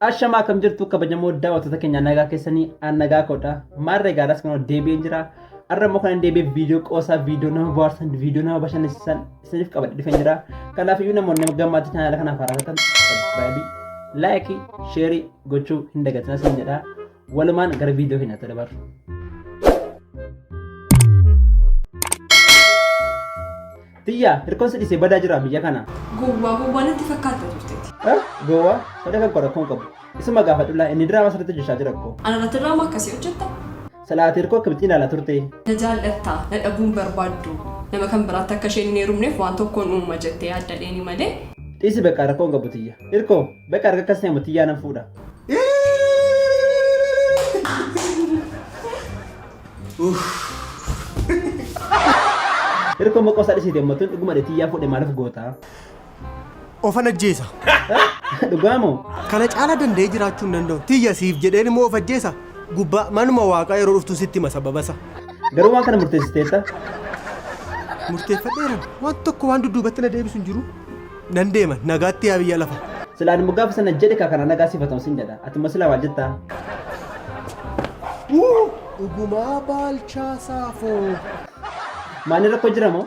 Ashamaa akkam jirtu kabajamoo daawwattoota keenya nagaa keessanii an nagaa koodha. Maarree gaaraas kan deebi'ee jira. Har'a immoo kan deebi'ee viidiyoo qoosaa viidiyoo nama bohaarsan viidiyoo nama bashannansiisan isiniif qabadhe dhufeen jira. Kanaaf iyyuu namoonni gammaatti chaanaala kanaaf haaraa taatan sabiskiraayibii, laayikii, sheerii gochuu hin dagatinaa isin jedha. Walumaan gara viidiyoo keenyaatti dabarru. Tiyyaa hirkoon si dhiisee badaa jira biyya kana. Gowwaa gowwaa natti fakkaata turteeti. Gowwaa fedha kan qorakkoon qabu. Isuma gaafadhullaa inni diraamaa sirriitti hojjechaa jira koo. Anarratti diraamaa akkasii hojjetta. Silaa ati hirkoo akkamitti ilaala turte? Na jaal'atta, na dhabuu hin barbaaddu. Nama kan biraatti akka isheen hin heerumneef waan tokkoon uumama jettee yaadda dheeni malee. Dhiisi beqaa rakkoo hin qabu tiyya. Hirkoo, beqa arga akkas ta'e tiyyaa nan fuudha. Hirkoo maqoo isaa dhisiite ammattuun dhuguma dhe tiyyaa fuudhe maaliif goota? Ofan ajjeesa. Dhugaa moo? Kana caala danda'ee jiraachuu hin danda'u. Tiyya siif jedheen immoo of ajjeesa. Gubbaa manuma waaqaa yeroo dhuftu sitti hima sababasa. Garuu waan kana murteessiteetta? Murteeffadheera. Waan tokko waan dudduubatti na deebisu hin jiru. Nan deema nagaatti yaa biyya lafa. Silaa ani moggaa sana jedhe kaa kana nagaa siifatamu siin jedha. Ati immoo silaa maal jettaa? Dhugumaa baalchaa saafoo. Maani rakkoo jira moo?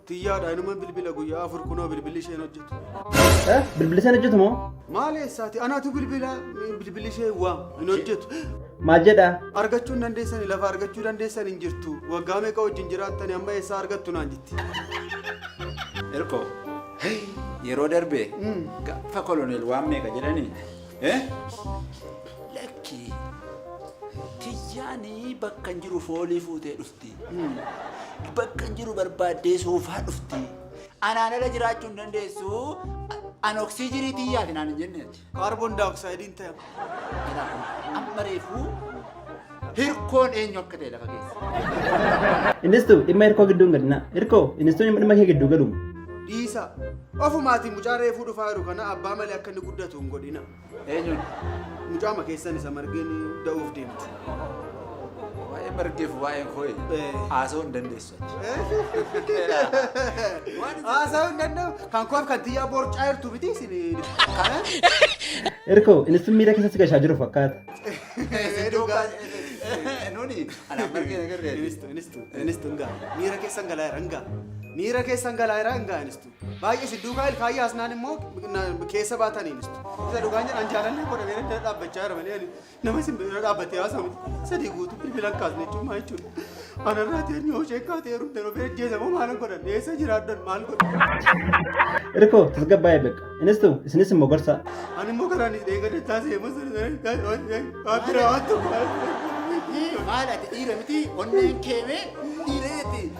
Tiyyaadha inuma bilbila guyyaa afur kunoo bilbilli isheen hojjetu. Bilbila sana hojjetu moo? Maal eessaati? Anaatu bilbila bilbilli ishee waam hin hojjetu. Maal jedha? Argachuu hin dandeessani lafa argachuu dandeessan hin jirtu. Waggaa meeqa wajjin jiraattani amma eessaa argattu naan jetti. Erko yeroo darbe gaafa koloneel waan meeqa jedhani lakki tiyyaanii bakka hin jiru foolii fuutee dhufe. dhufti. Bakka jiru barbaaddee soofaa dhufti. Anaan ala jiraachuu hin dandeessu. An oksiijinii tiyyaati naan hin jenne. Kaarboon daayoksaaydiin ta'e. Amma reefuu hirkoon eenyu akka ta'e lafa keessa. Innistu dhimma hirkoo gidduun gadinaa. Hirkoo innistu dhimma kee gidduu galuun. Dhiisa. Ofumaatiin mucaa reefuu dhufaa jiru kana abbaa malee akka inni guddatu hin godhina. Eenyuun? Mucaama keessan isa margeen da'uuf deemtu. Waa'ee margeef waa'ee koo'e haasa'uu hin dandeessu. Haasa'uu hin danda'u. Kan koof kan tiyyaa borcaa jirtu miti isin. Erkoo innis miira keessatti gashaa jiru fakkaata. Nuni alaa margeen agarree. Inistu inistu inistu ngaa miira keessan galaa jira ngaa miira keessan galaa jira ngaa inistu. Baay'ee si duukaa ilkaayii haasnaan immoo keessa baataniin isa dhugaan jedhan jaalallee godha meera bira dhaabbachaa jira malee nama isin bira dhaabbatee haasa'u sadii guutuu bilbilan kaasne jechuun maa jechuudha. Anarraa ta'een yoo ishee kaatee heerumte yeroo bira jeesamoo maal godhan eessa jiraadhan maal godhan. Irkoo tasgabbaa'ee beeka. Innis ta'u isinis immoo gorsaa. Ani immoo karaan isin eeggate taasise immoo waan biraa waan tokko. Maal ati dhiira miti onneen keemee dhiireeti.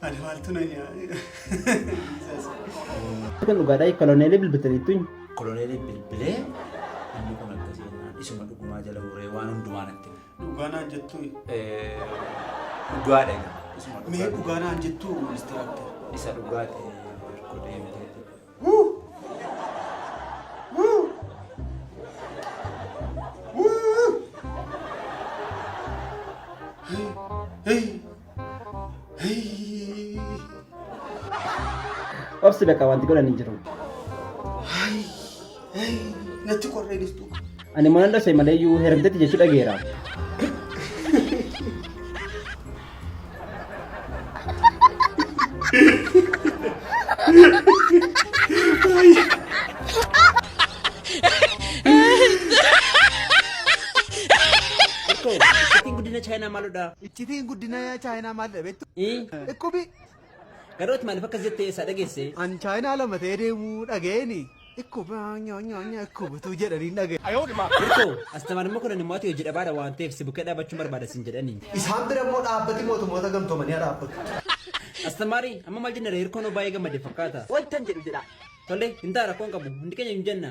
Ani maaltu na nyaadha. Kan dhugaadhaa koloneelii bilbiltaniittu hin. Koloneelii bilbilee inni kun akkasii jennaan isuma dhugumaa jala muree waan hundumaa natti hime. Dhugaa naan jettuu Eh, Dhugaadha egaa. Isuma mee dhugaa. dhugaa naan jettuu inistiraaktar. Isa dhugaati erga deemtee. Obsi bakka wanti godhan hin jiru. Natti qorree jirtu. Ani maal dhase malee iyyuu hermtetti jechuu dhageera. Ittiin guddina chaayinaa maalodha? Ittiin guddina chaayinaa maalidha beektu? Dhukkubi Garooti maalif akkas jette eessaa dhageesse? An chaayinaa lama ta'ee deemuu dhaga'eeni ikku baa nyaa nyaa nyaa ikku butuu jedhaniin dhaga'e. Hirko, Astamar immoo kunan immoo ati hojii dhabaadha waan ta'eef si bukkee dhaabachuun barbaada sin jedhani. Isaan bira immoo dhaabbati mootummoota gamtoomanii haa dhaabbatu. Astamari, Amma maal jenna ree hirkoon hoo baay'ee gammade fakkaata. Wantan jedhu jedhaa. Tole, hin ta'a rakkoon qabu. Hundi keenya hin jenna.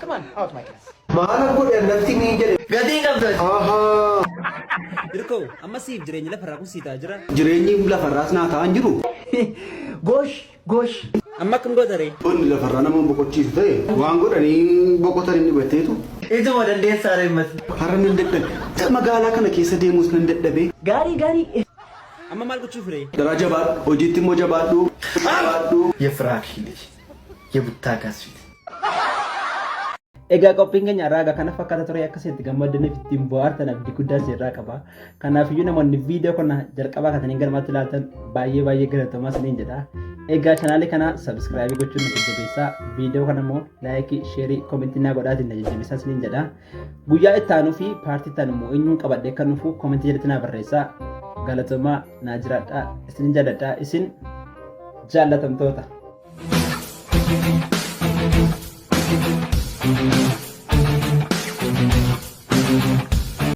Come on, out my class. Maala godhe annatti niin jedhe. Gatii hin qabdu ati. Ahaa. Hirkoo, amma siif jireenyi lafarraa kun sii ta'a jira. Jireenyi lafarraas naa ta'an jiru. Gosh, gosh. Amma akkam goota ree? Wanni lafarraa nama boqochiisu ta'e waan godhanii boqotan inni batteetu. Ituma dandeessaa ree mati. Har'a nan dadhabe. Magaalaa kana keessa deemus nan dadhabe. Gaarii, gaarii. Amma maal gochuuf ree? Daraa jabaadhu. Hojiitti immoo jabaadhu. Jabaadhu. Yefraak Hilii. የቡታጋዝ ፊት Egaa qophiin keenya irraa egaa kana fakkaata ture akka isin itti gammaddaniif ittiin bohaartan abdii guddaa isin irraa qaba. Kanaafiyyuu namoonni viidiyoo kana jalqabaa kaasanii galmaatti ilaaltan baay'ee baay'ee galatoomaa isiniin jedha. Egaa chanaalii kana sabiskiraabii gochuun na jajjabeessaa. Viidiyoo kana immoo laayikii, sheerii, koomentii naa godhaatiin na jajjabeessaa isiniin jedha. Guyyaa itti aanuu fi paartii itti aanu immoo eenyuun qabadhee akka dhufu komentii jalatti naa barreessaa. Galatoomaa naa jiraadhaa isin jaalladhaa isin jaallatamtoota.